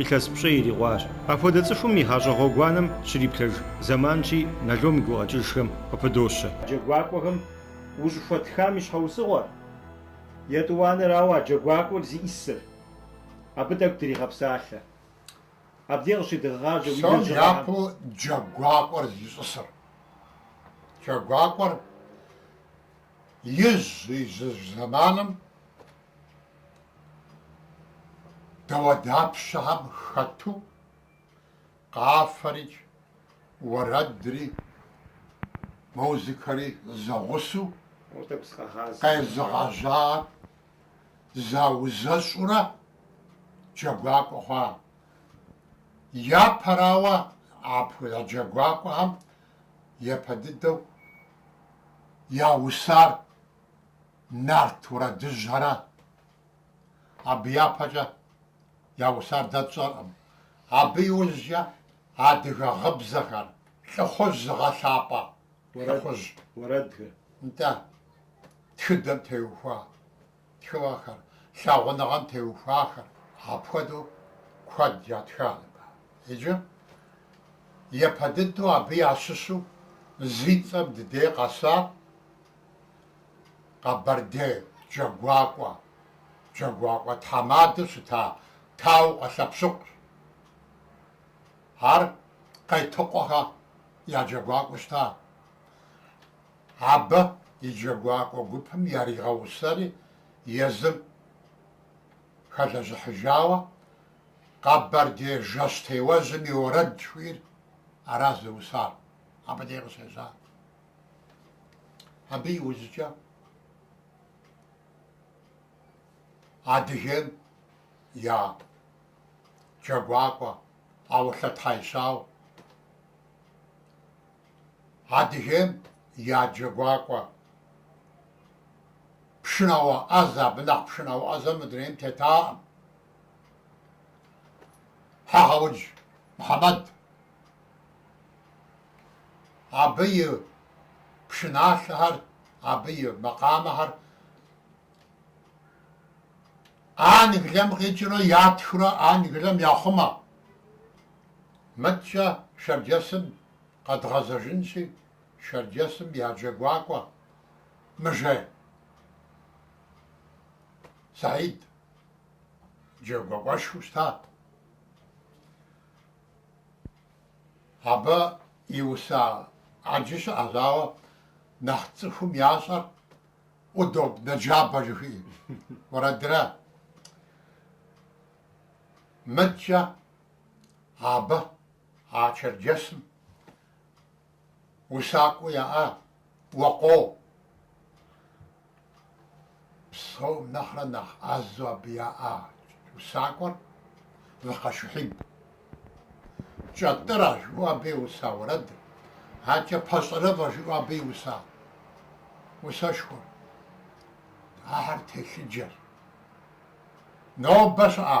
Илъэс пщӏэ ирикъуащ. Апхуэдэ цӏыхум и гъащӏэ гъуэгуанэм щриплъэж зэманщи, Налом и гукъэкӏыжхэм къыпыдощэ. Джэгуакӏуэхэм ущӏыхуэтхам и щхьэусыгъуэр, етӏуанэрауэ, а джэгуакӏуэр зищӏысыр. Абы тӏэкӏу дригъэпсалъэ. Абдей къыщедгъэгъажьэ уи лэжьыгъэхэм. Псом япэу джэгуакӏуэр зищӏысыр. Джэгуакӏуэр ижь-ижьыж зэманым. Дауэдапщэхэм хэту, къафэри, уэрэдри, музыкэри зэгъусэу къезыгъэжьахэр заузэщӏурэ джэгуакӏуэ хъуа. Япэрауэ, апхуэдэ джэгуакӏуэхэм япэ дыдэу яусар. Нарт уэрэдыжьхэра. Абы япэкӏэ яусар дэ тщӏэркъым. Абы иужькӏэ адыгэ гъыбзэхэр, лӏыхъужь зыгъэлъапӏэ лӏыхъужь уэрэдхэр. Нтӏэ, тхыдэм теухуа тхыгъэхэр, лъагъуныгъэм теухуахэр, апхуэдэу куэд ятха. Иджы япэ дыдэу абы ящыщу зи цӏэм ди дей къэсар. Къэбэрдей Джэгуакӏуэ, Джэгуакӏуэ тхьэмадэу щыта Таукъуэ Лъэпщыкъущ. Ар Къетыкъуэхэ я джэгуакӏуэу щыта. Абы и джэгуакӏуэ гупым яригъэусэри езым хэлэжьыхьыжауэ Къэбэрдей жэщтеуэжьым и уэрэд жыхуиӏэр аращ зыусар. Абы дей къыщежьар. Абы иужькӏэ Адыгейм я Джэгуакӏуэ Аулъэ Тхьэищауэ, Адыгейм я Джэгуакӏуэ пшынауэ ӏэзэ, абы нэхъ пшынауэ ӏэзэ мы дунейм тетакъым. Хьэгъэудж Мыхьэмэд. абы и пшыналъэхэр, абы и макъамэхэр Англием къикӏыурэ ятхыурэ Англием яхъумэ. Мыдкӏэ Шэрджэсым къэдгъэзэжынщи, Шэрджэсым я джэгуакӏуэ Мыжей Саид джэгуакӏуэшхуэу щытат. Абы иуса ӏэджи щыӏэщ, ауэ нэхъ цӏыхум ящӏэр удобнэ джабэ жыхуиӏэ уэрэдра. Мыдкӏэ абы а черджэсым. Усакӏуэ яӏа? Уэ къо! Псом нэхърэ нэхъ ӏэзэу абы яӏа усакӏуэр Выкъэ Шухьиб. Кӏэтӏырэ жыӏэу абы и уса уэрэдыр, адэкӏэ Пэщӏэрэфӏэ жыӏэу абы и уса усэшхуэр. Ахэр телъыджэщ. Нобэ щыӏа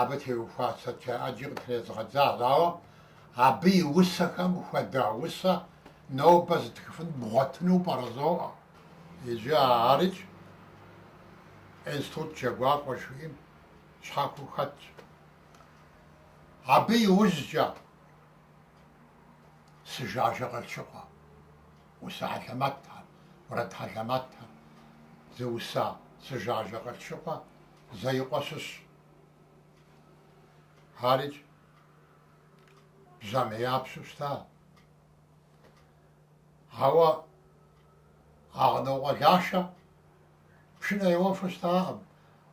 Абы теухуа статья ӏэджи къытрезгъэдзащ, ауэ абы и усэхэм хуэдэ усэ нобэ зытхыфын бгъуэтыну пӏэрэ зоӏэ. Иджы арикӏ институт Джэгуакӏуэ жыхуиӏэм щхьэхуэу хэтщ. Абы иужькӏэ Сыжажэ Къылъшыкъуэ, усэ хьэлэмэтхэр, уэрэд хьэлэмэтхэр зыуса Сыжажэ Къылъшыкъуэ, Зэикъуэ щыщ. Арикӏ бжьамияпщэу щыта. Ауэ Агънокъуэ Лашэ пшынэ еуэфу щытакъым,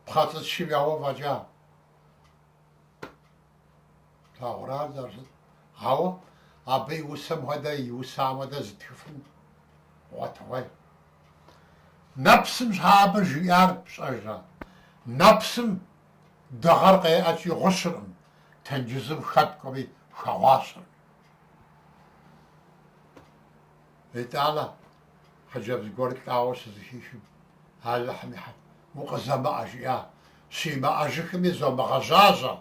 пхъэцӏычым еуэ фӏэкӏа. Плъагъуращ зэрыщыт. Ауэ абы и усэм хуэдэ, и усам хуэдэ зытхыфын гъуэтыгъуей. Нэпсым щхьэ абы жиӏар пщӏэжрэ? Нэпсым дыгъэр къеӏэкӏи гъущыркъым, тенджызым хэткӏуэми хэгъуащэркъым. Итӏанэ хъыджэбз гуэр лӏауэ щызыхихым, Алыхьым и Укъызэмыӏэ, жиӏа, щимыӏэжыхми зомыгъэжьажьэ.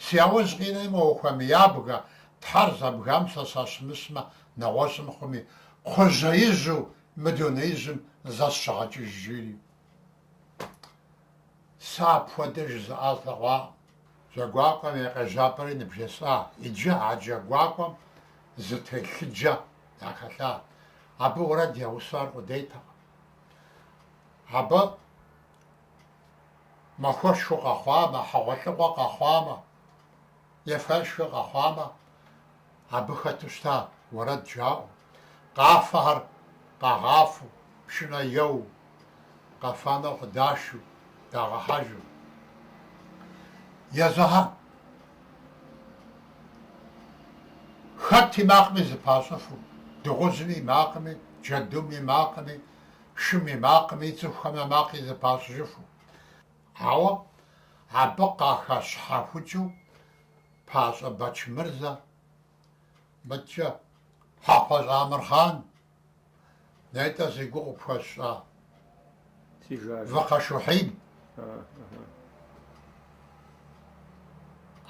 Си яужь къинэми ухуэмыябгэ, Тхьэр зэбгам сэ сащымыщмэ, нэгъуэщӏым хъуми, кхъужьеижьу мы дунеижьым зэ сыщыгъэкӏыж, жери. Сэ апхуэдэ жызыӏа слъэгъуакъым. Джэгуакӏуэм и къежьапӏэри ныбжесӏа, иджы а Джэгуакӏуэм зы телъыджэ яхэлъа. Абы уэрэд яусар къудейтэкъым. Абы махуэшхуэ къэхъуамэ, хьэгъуэлӏыгъуэ къэхъуамэ, ефэ-ешхэ къэхъуамэ, абы хэту щыта уэрэд жаӏэу, къафэхэр къагъафэу, пшынэ еуэу, къэфэну къыдашу, дагъэхьэжу. Езыхьэ хэт и макъми зыпащӏыфу, дыгъужьым и макъми, джэдум и макъми, шым и макъми, цӏыхухэм я макъи зыпащӏыжыфу, ауэ абы къахэщхьэхукӏыу Пащӏэ Бэчмырзэ, мыдкӏэ, Хьэхъупащӏэ Амырхъан, нетӏэ зи гугъу къыпхуэсщӏа Выкъэ Шухьиб,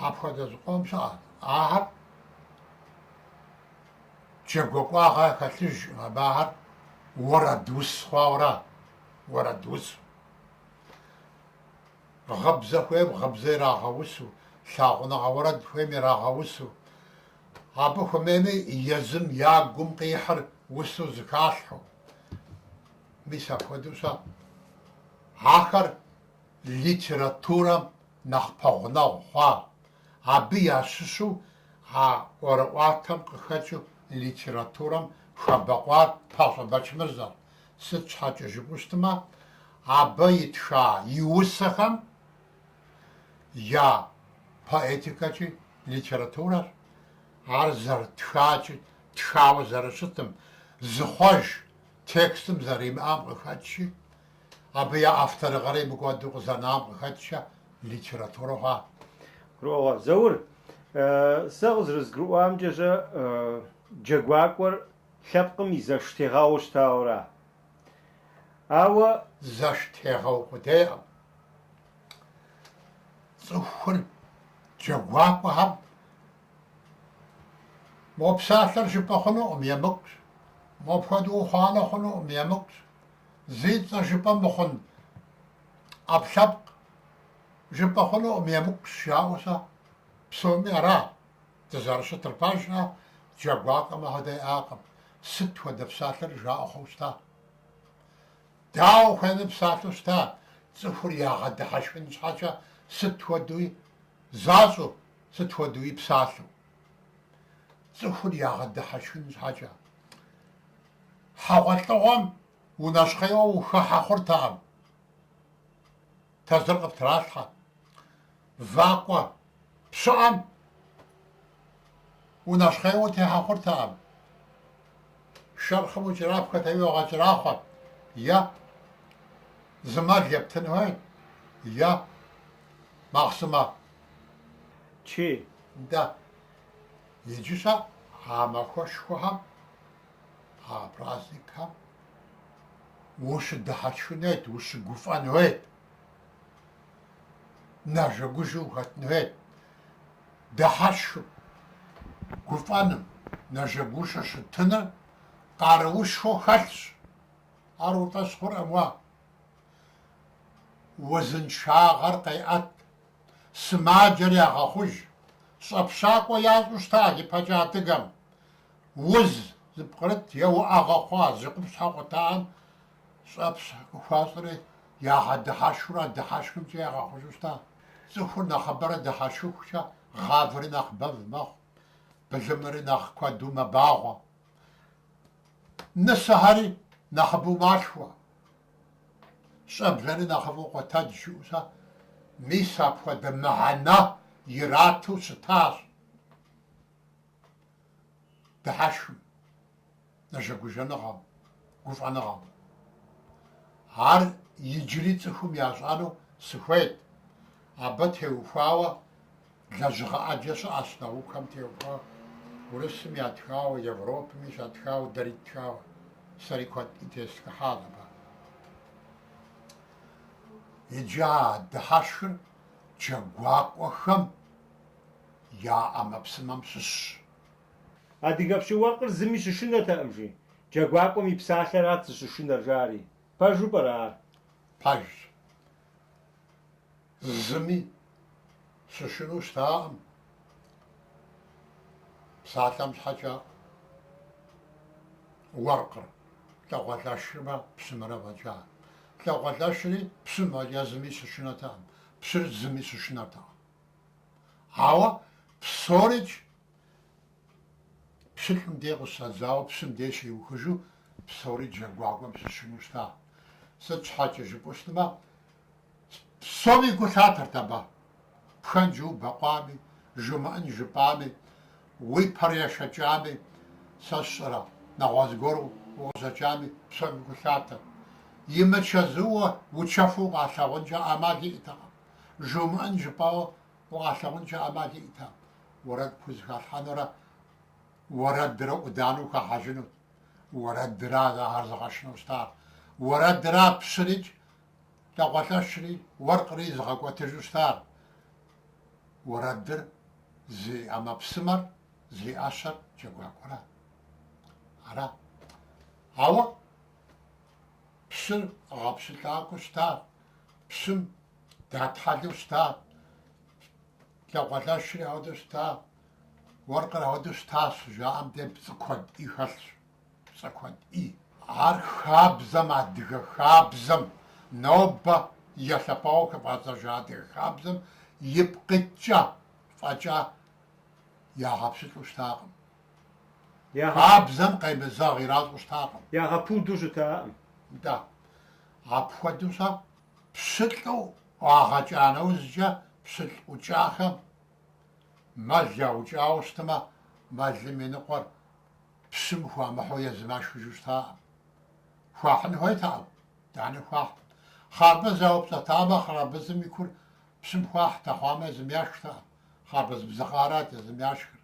апхуэдэ зыкъом щыӏэт ахэр. Джэгуэкӏуагъэ хэлъыжкъым, ахэр уэрэдус хъуауэра, уэрэдус. Гъыбзэ хуейм гъыбзэ ирагъэусу, лъагъуныгъэ уэрэд хуейм ирагъэусу. Абы хуэмейми езым я гум къихьыр усу зыхалъхьэу. Мис апхуэдэу щэ. Ахэр литературэм нэхъ пэгъунэгъу хъуа Абы ящыщу а ӏуэрыӏуатэм къыхэкӏыу литературэм хэбэкъуар Пащӏэ Бэчмырзэр, сыт щхьэкӏэ жыпӏэу щытмэ, абы итха и усэхэм я поэтикэкӏи литературэр, ар зэрытхакӏи тхауэ зэрыщытым, зыхъуэж текстым зэримыӏэм къыхэкӏкӏи, Абы я авторыгъэрей мыкӏуэду къызэнам къыхэкӏкӏэ литературэ хъуа. Гурыӏуэгъуэ. Заур, сэ къызэрызгурыӏуамкӏэ, джэгуакӏуэр лъэпкъым и зэштегъэууэ щытауэра? Ауэ зэштегъэу къудейкъым. Цӏыхур джэгуакӏуэхэм мо псалъэр жыпӏэ хъунукъым, емыкӏущ, мопхуэдэу ухъуанэ хъунукъым, емыкӏущ. Зи цӏэ жыпӏэ мыхъун ӏэпкълъэпкъ жыпӏэ хъунукъым, емыкӏущ жаӏэу сэ псоми ара дызэрыщытыр пэжщ, джэгуакӏуэм ахуэдэ иӏакъым, сыт хуэдэ псалъэри жаӏэ хъууэ щыта. Дауэ хуейми псалъэу щыта, цӏыхур ягъэдыхьэшхын щхьэкӏэ сыт хуэдэуи защӏэу, сыт хуэдэуи псалъэу. Цӏыхур ягъэдыхьэшхын щхьэкӏэ. Хьэгъуэлӏыгъуэм унэщхъейуэ ухыхьэ хъуртэкъым. Тезыр къыптралъхьэ. Вакӏуэ пщыӏэм унэщхъейуэ утехьэ хъуртэкъым. Шэрхъым укӏэрапхэрти, уагъэкӏэрахъуэт, е зы мэл ептын хуейт, е махъсымэ чей. Да. Иджы щэ а махуэшхуэхэм, а праздникхэм ущыдыхьэшхын хуейт, ущыгуфӏэн хуейт, нэжэгужэу ухэтын хуейт. Дыхьэшхым, гуфӏэным, нэжэгужэу щытыныр къаруушхуэу хэлъщ. Ар уи фӏэщ хъуркъым уэ. Узыншагъэр къеӏэт. сымаджэр ягъэхъуж, щӏэпщакӏуэ ящӏу щыта ипэкӏэ адыгэм, уз зыпкърыт е уӏэгъэ хъуа зи къупщхьэ къутахэм щӏэпщ къыхуащӏри, ягъэдыхьэшхыурэ дыхьэшхымкӏэ ягъэхъужу щыта. Цӏыхур нэхъыбэрэ дыхьэшхыхукӏэ, гъавэри нэхъ бэв мэхъу, былымри нэхъ куэду мэбагъуэ, нысэхэри нэхъыбэу малъхуэ. Щӏэблэри нэхъыфӏу къотэдж жиӏэу щэ. Мис апхуэдэ мыхьэнэ ирату щытащ дыхьэшхым, нэжэгужэныгъэм, гуфӏэныгъэм. Ар иджыри цӏыхум ящӏэну сыхуейт, абы теухуауэ. Лэжьыгъэ ӏэджэ щыӏэщ наукэм теухуауэ, урысыми ятхауэ, Европэми щатхауэ, дэри ттхауэ. Сэри куэди тестхыхьащ абы. Иджы а дыхьэшхыр джэгуакӏуэхэм я ӏэмэпсымэм щыщщ. Адыгэ пщы-уэркъыр зыми щышынэтэкъым, жи. Джэгуакӏуэм и псалъэрат зыщышынэр, жари. Пэжу пӏэрэ ар? Пэжщ. Зыми щышынэу щытакъым, псалъэм щхьэкӏэ уэркъыр, лӏакъуэлӏэшымрэ пщымрэ фӏэкӏа. Лӏакъуэлӏэшри пщым фӏэкӏа зыми щышынэтэкъым, пщыр зыми щышынэртэкъым. Ауэ псорикӏ. Пщылӏым дей къыщыщӏэдзауэ пщым дей щиухыжу псори джэгуакӏуэм щышынэу щыта. Сыт щхьэкӏэ жыпӏэу щытмэ, псоми гу лъатэрт абы. Пхэнжу убэкъуами, жумыӏэн жыпӏами, уи пэр ешэкӏами, сэ сщӏэрэ, нэгъуэщӏ гуэр укъыщӏэкӏами, псоми гу лъатэрт. Имычэзууэ учэфу укъалъагъункӏэ ӏэмал иӏтэкъым. Жумыӏэн жыпӏауэ укъалъагъункӏэ ӏэмал иӏтэкъым. Уэрэд пхузэхалъхьэнурэ уэрэдрэ ӏуданэу хэхьэжынут. Уэрэдра ахэр зыгъэшынэу щытар. Уэрэдра пщырикӏ лӏакъуэлӏэшри уэркъри зыгъэкӏуэтыжу щытар. Уэрэдыр зи ӏэмэпсымэр, зи ӏэщэр джэгуакӏуэра? Ара. Ауэ пщыркъэ гъэпщылӏакӏуэу щытар? Пщым Датхьэлу щыта? Лъхукъуэлӏри ауэдэу щыта? Уэркъыр ауэдэу щыта щыжаӏэм деж пцӏы куэд ӏей хэлъщ. Пцӏы куэд ӏей. Ар хабзэм, адыгэ хабзэм, нобэ елъэпауэу хыфӏадзэжа адыгэ хабзэм ипкъ иткӏэ фӏэкӏа ягъэпщылӏу щытакъым. Хабзэм къемызэгъ иращӏу щытакъым. Ягъэпуду щытакъым. Нтӏэ, апхуэдэу щэ? Пщылӏу ӏуагъэкӏа нэужькӏэ пщылӏ ӏукӏахэм мэл яукӏауэ щытмэ, мэлым и ныкъуэр пщым хуамыхьу езым яшхыжу щытаӏым. Хуахьын хуейтэкъым, итӏани хуахьт. Хъарбыз яупщӏэтамэ, хъарбызым и кур пщым хуахьт, ахъумэ езым яшхтэкъым, хъарбыз бзыгъэ арат езым яшхыр.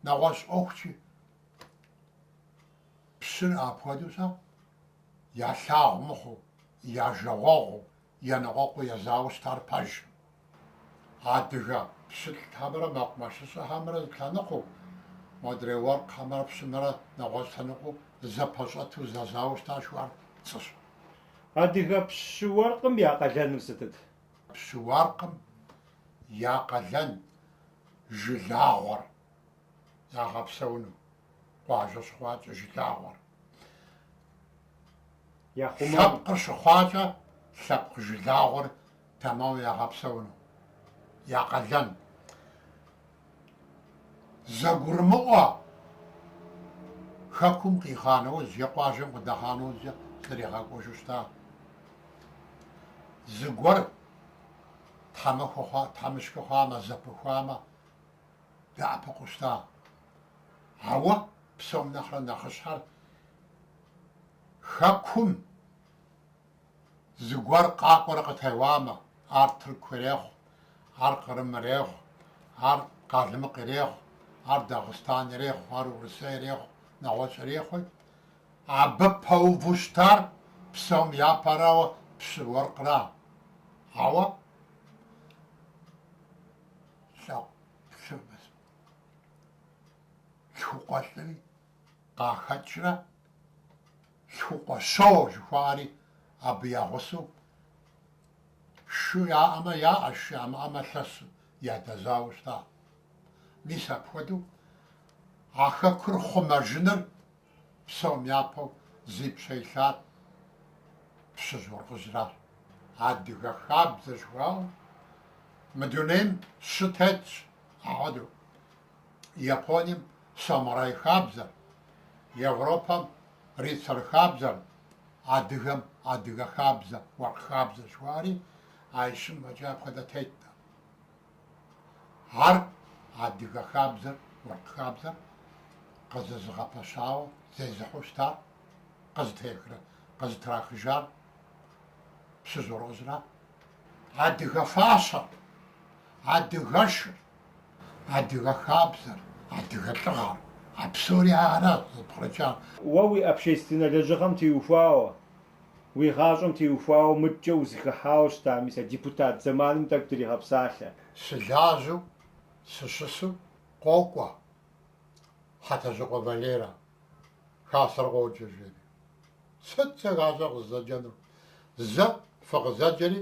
Нэгъуэщӏ ӏуэхучи. Пщыр апхуэдэу щэ, ялъагъу мыхъуу, я жагъуэгъуу, еныкъуэкъуу езауэ щытар пэжӏым. Адыгэ пщылӏхэмрэ мэкъумэшыщӏэхэмрэ зылъэныкъуэу, модрей уэркъхэмрэ пщымрэ нэгъуэщӏ лъэныкъуэу зэпэщӏэту зэзауэ щыта жыхуаӏэр пцӏыщ. Адыгэ пщы уэркъым я къалэныр сытыт? Пщы уэркъым я къалэн жылагъуэр. ягъэпсэуну къуажэ щыхъуакӏэ жылагъуэр. Лъэпкъыр щыхъуакӏэ лъэпкъ жылагъуэр тэмэму ягъэпсэуну. Я къалэн. Зэгурымыӏуэ Хэкум къихъуа нэужь е къуажэм къыдэхъуа нэужькӏэ зэригъэкӏуэжу щыта. Зыгуэр тхьэмыщкӏэ хъуамэ, зэпыхуамэ, дэӏэпыкъуу щыта. Ауэ псом нэхърэ нэхъыщхьэр Хэкум зыгуэр къакӏуэрэ къытеуамэ, ар тырку ирехъу, ар кърым ирехъу, ар къалмыкъ ирехъу, ар Дагъыстан ирехъу, ар Урысей ирехъу, нэгъуэщӏ ирехъуи, абы пэуву щытар псом япэрауэ пщы уэркъра? Ауэ. лъху лъхукъуэлӏри къахэкӏрэ лъхукъуэщо жыхуаӏэри абы я гъусэу шы яӏэмэ яӏэ, шы ямыӏэмэ лъэсу ядэзауэ щытащ. Мис апхуэдэу а хэкур хъумэжыныр Псом япэу зи пщэ илъар пщыжь-уэркъыжьращ. Адыгэ хабзэ жыхуаӏэу мы дунейм щы тетщ. Ахуэдэу Японием самурай хабзэр, Европэм рыцарь хабзэр, адыгэм адыгэ хабзэ, уэркъ хабзэ жыхуаӏэри а ищым фӏэкӏа апхуэдэ теткъым. Ар адыгэ хабзэр, уэркъ хабзэр къызэзыгъэпэщауэ зезыхьэу щытар, къызытехрэ къызытрахыжар пщыжь-уэркъыжьрат. Адыгэ фащэр, адыгэшыр, адыгэ хабзэр, адыгэ лӏыгъэр, а псори аращ зыпкърыкӏар. Уэ уи общественнэ лэжьыгъэм теухуауэ, Уи гъащӏэм теухуауэ мыдкӏэ узыхыхьауэ щыта, мис а депутат зэманым тӏэкӏу дригъэпсалъэ. Сылажьэу сыщысу къокӏуэ, Хьэтэжьыкъуэ Валерэ, хасэр къоджэ, жери. Сыт сэ хасэ къызэджэнур? Зэ фыкъызэджэри,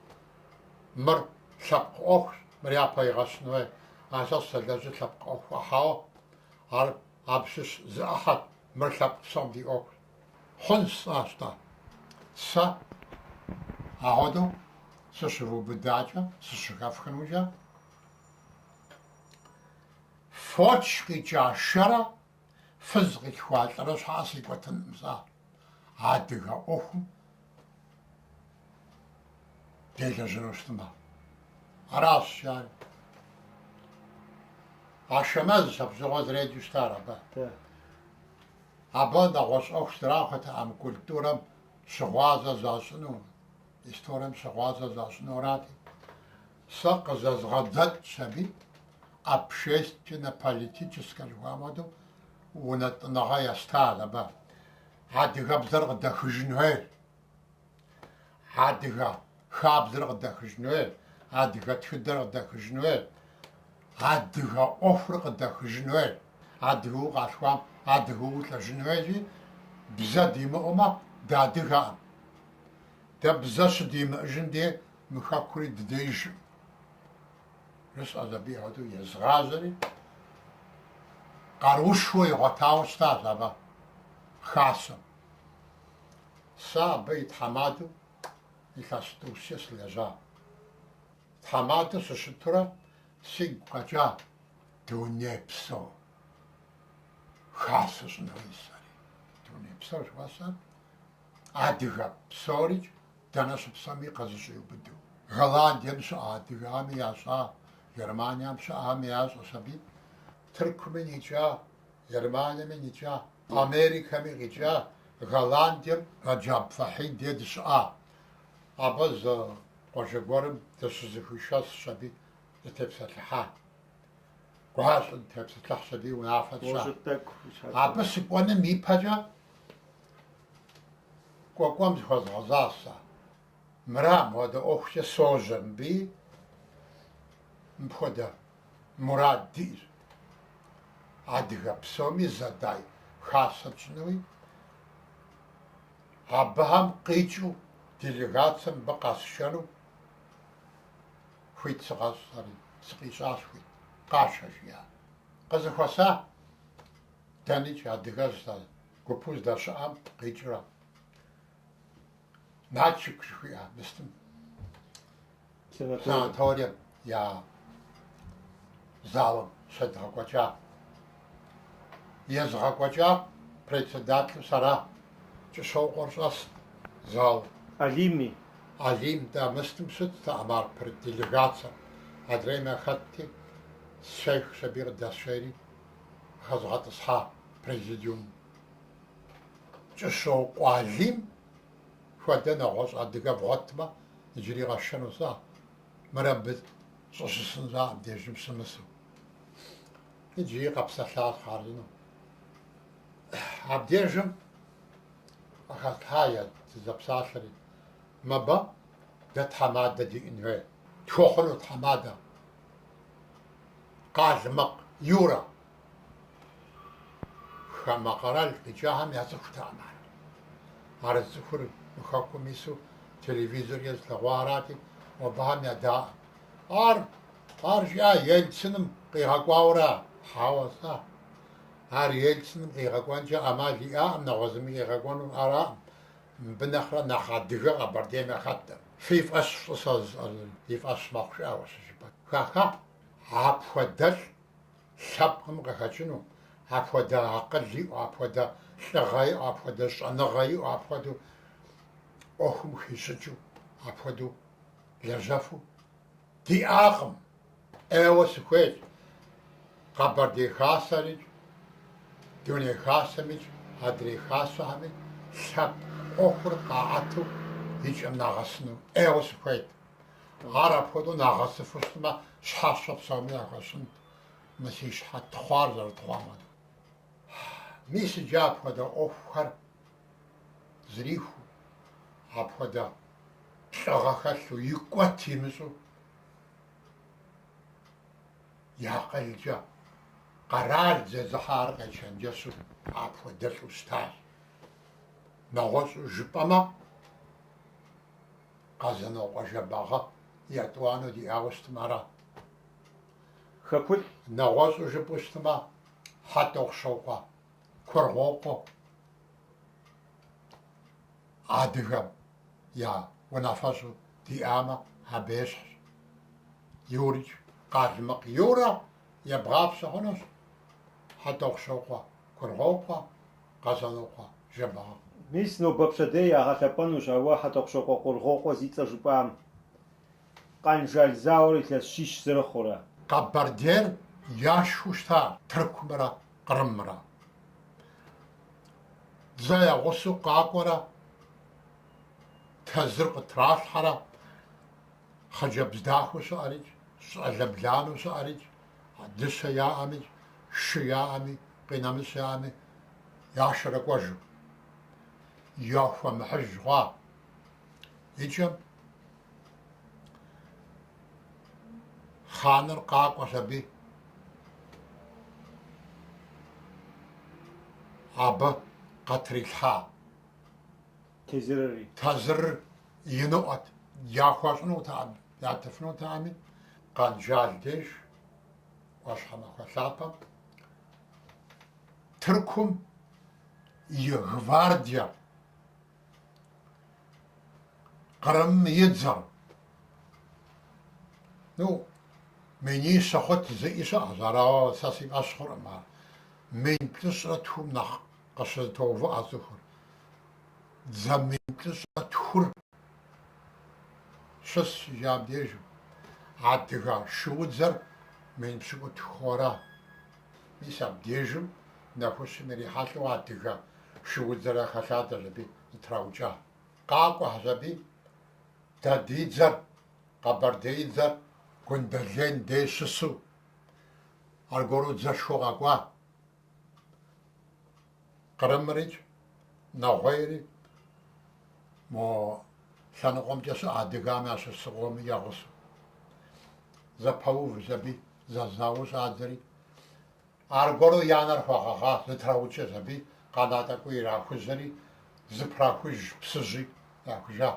Мыр лъэпкъ ӏуэхущ, мыр япэ игъэщын хуей. А сэ сызэлэжьыр лъэпкъ ӏуэхукъэ? Хьэуэ, ар абы щыщ зы ӏыхьэт. Мыр лъэпкъ псом ди ӏуэхущ. Хъунщ, жысӏащ-тӏэ. Сэ ахуэдэу сыщывубыдакӏэ, сыщыхэфхынукӏэ, фоч къикӏа шэрэ Фыз къилъхуа лӏырэ щхьэкӏэ сикӏуэтынкъым сэ адыгэ ӏуэхум делэжьэну щытмэ. Аращ ар. Ашэмэзщ абы щыгъуэ зэреджэу щытар абы. Абы нэгъуэщӏ ӏуэху зэрахуэтэкъым, культурэм щыгъуазэ защӏыну, историем щыгъуазэ защӏыну арати. Сэ къызэзгъэдзэкӏщ аби, общественнэ-политическэ жыхуаӏэм хуэдэу, унэтӏыныгъэ естат абы. Адыгэбзэр къыдэхыжын хуейр, адыгэ хабзэр къыдэхыжын хуейр, адыгэ тхыдэр къыдэхыжын хуейр, адыгэ ӏуэхур къыдэхыжын хуейр, адыгэу укъалъхуам адыгэу улӏэжын хуейри, бзэ димыӏэумэ, дыадыгэкъым. Дэ бзэ щыдимыӏэжын дей Мы хэкури дыдеижкъым, жысӏэщ, абы хуэдэу езгъажьэри, къаруушхуэ игъуэтауэ щытащ абы хасэм. Сэ абы и тхьэмадэу илъэс тӏущкӏэ сылэжьа. Тхьэмадэу сыщытурэ сигу къэкӏа дунейпсо хасэ щӏын хуей жысӏэри. Дунейпсо жыхуэсӏэр? Адыгэ псорикӏ дэнэ щыпсэуми къэзыщӏиубыду. Голландием щыӏэ адыгэхэми ящӏа, Германием щыӏэхэми ящӏэщ аби, Тыркуми икӏа, Германиеми никӏа, Америкэми къикӏа, Голландием Рэджаб Фатхьи дей дыщыӏа. Абы зы къуажэ гуэрым дыщызыхуишэсщ аби дытепсэлъыхьа. Гуащӏэ дытепсэлъыхьщ аби унафэ тщӏа. Абы сыкӏуэным ипэкӏэ Кӏуэкӏуэм зыхуэзгъэзащ сэ. Мыра, мыхуэдэ ӏуэхукӏэ сожьэ мыбыи, мыпхуэдэ мурад диӏэр. Адыгэ псоми зэдай хасэ тщӏынуи, абыхэм къикӏыу делегацие мыбы къэсшэну хуит сыкъэщӏ, ари, сыкъищӏащ хуит, къашэ жиӏа. Къызыхуэса, дэникӏ адыгэ Гупу здэщыӏам къикӏрэ Нальчик жыхуиӏэ мыстым санаторием я залым щедгъэкӏуэкӏа. Езыгъэкӏуэкӏар председателу сэра, Кӏыщокъуэр щӏэст залым. Алими. Алим, да, мыстым щытт а марпыр делегацэр. Адрейм яхэтти, сехщ аби къыдэсшейри, хэзгъэтӏысхьа президиум. Кӏыщокъуэ Алим хуэдэ нэгъуэщӏ адыгэ бгъуэтмэ, иджыри къэсшэну сэ. Мыр абы щӏыщысын щыӏэ абдежым щымысу. Иджыри къэпсэлъащ хъарзынэу. Абдежым къыхэтлъхьа, дызэпсалъэри, мыбы дэ тхьэмадэ диӏэн хуей. Тхуэхъуну тхьэмадэ? Къалмыкъ Юрэ хамэ къэрал къикӏахэм яцӏыхутэкъым ар. Ар зыцӏыхур мы хэкум ису телевизоркӏэ зылъэгъуа арати, абыхэм ядаӏым. Ар ар жиӏа Ельциным къигъэкӏуауэра? Хьэуэ, жысӏа. Ар Ельциным къигъэкӏуэнкӏэ ӏэмал иӏэӏым, нэгъуэщӏ зыми къигъэкӏуэну араӏым. Мыбы нэхърэ нэхъ адыгэ Къэбэрдейм яхэтӏым. Фи фӏэщ фщӏы сэ жысӏэр, и фӏэщ мэхъу, жиӏа, уэ щыжыпӏэкӏэ. Ха-ха! Апхуэдэлӏ лъэпкъым къыхэкӏыну, апхуэдэ акъыл иӏэу, апхуэдэ лӏыгъэ иӏэу, апхуэдэ щӏэныгъэ иӏэу, апхуэдэу ӏуэхум хищӏыкӏыу, апхуэдэу лэжьэфу. Диӏакъым, ӏейуэ сыхуейщ, Къэбэрдей Хасэрикӏ, Дуней Хасэмикӏ, Адрей Хасэхэми лъэпкъ ӏуэхур къаӏэту и кӏэм нагъэсыну ӏейуэ сыхуейт. Ар апхуэдэу нагъэсыфу щытмэ, щхьэщэ псоми яхуэсщӏынт мы си щхьэ тхъуар зэрытхъуам хуэдэу. Мис иджы апхуэдэ ӏуэхухэр зрихыу, апхуэдэ лӏыгъэ хэлъу, икӏуэт имыщӏэу, и акъылкӏэ къэрал зезыхьар къечэнджэщу апхуэдэлӏу щытащ. Нэгъуэщӏу жыпӏэмэ, Къэзанокъуэ Жэбагъы етӏуанэу диӏауэ щытым ара? Хэкулӏ. Нэгъуэщӏу жыпӏэу щытмэ, Хьэтӏохъущокъуэ. Кургъуокъуэ адыгэм я унафэщӏу диӏамэ, абы ещхьщ Юрикӏ, Къалмыкъ Юрэ ебгъапщэ хъунущ, Хьэтӏохъущокъуэ Кургъуокъуэ, Къэзанокъуэ Жэбагъы. Мис нобэ пщэдей ягъэлъэпӏэнущ ауэ Хьэтӏохъущокъуэ Кургъуокъуэ зи цӏэ жыпӏам. Къэнжал зауэр илъэс щищ зэрыхъурэ. Къэбэрдейр яшхыу щыта Тыркумрэ Кърымрэ. Дзэ ягъусэу къакӏуэрэ тезыр къытралъхьэрэ хъыджэбз дахэу щыӏэрикӏ, щӏалэ бланэу щыӏэрикӏ, дыщэ яӏэми, шы яӏэми, къинэмыщӏ яӏэми, яшэрэ кӏуэжу. Яхуэмыхьыж хъуа Икӏэм хъаныр къакӏуэщ аби, абы къытрилъхьа тезырри, тезырыр иныӏуэт. Яхуэщӏынутэкъым, ятыфынутэкъыми, Къэнжал деж, ӏуащхьэмахуэ лъапэм, Тыркум и гвардие. Кърымым и дзэр. Ну, минищэ хъут жызыӏи щыӏэщ, ар ауэ сэ си фӏэщ хъуркъым ар. Мин плӏыщӏрэ тхум нэхъ къыщызэтоувыӏэ цӏыхур. Дзэ мин плӏыщӏрэ тхур щыс иджы абдежым. Адыгэ шуудзэр мин пщыкӏутху ара? Мис абдежым нэхущым ирихьэлӏэу адыгэ шуудзэр хэлъадэщ аби зытраукӏа. Къакӏуэхэщ аби дэ ди дзэр, къэбэрдеидзэр Гундэлен дей щысу, аргуэру дзэшхуэу къэкӏуа. Кърымрикӏ, нэгъуейри мо лъэныкъуэмкӏэ щыӏэ адыгэм ящыщ зыкъоми ягъусэу. Зэпэувщ аби, зэзауэу щӏадзэри. Аргуэру я анэр хуагъэгъа, зытраукӏэщ аби, къэна тӏэкӏуи ирахужьэри, зыпрахущ Псыжьи, яхужа.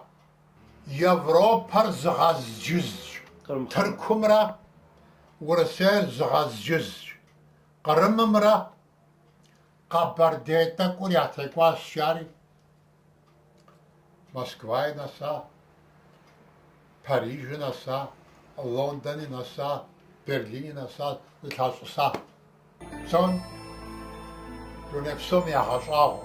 Европэр зыгъэзджызщ, Тыркумрэ Урысейр зыгъэзджызщ, Кърымымрэ Къэбэрдей тӏэкӏур ятекӏуащ жари, Москваи нэса, Парижи нэса, Лондони нэса, Берлини нэса, зылъащӏыса. Псом, дуней псоми ягъэщӏагъуэ.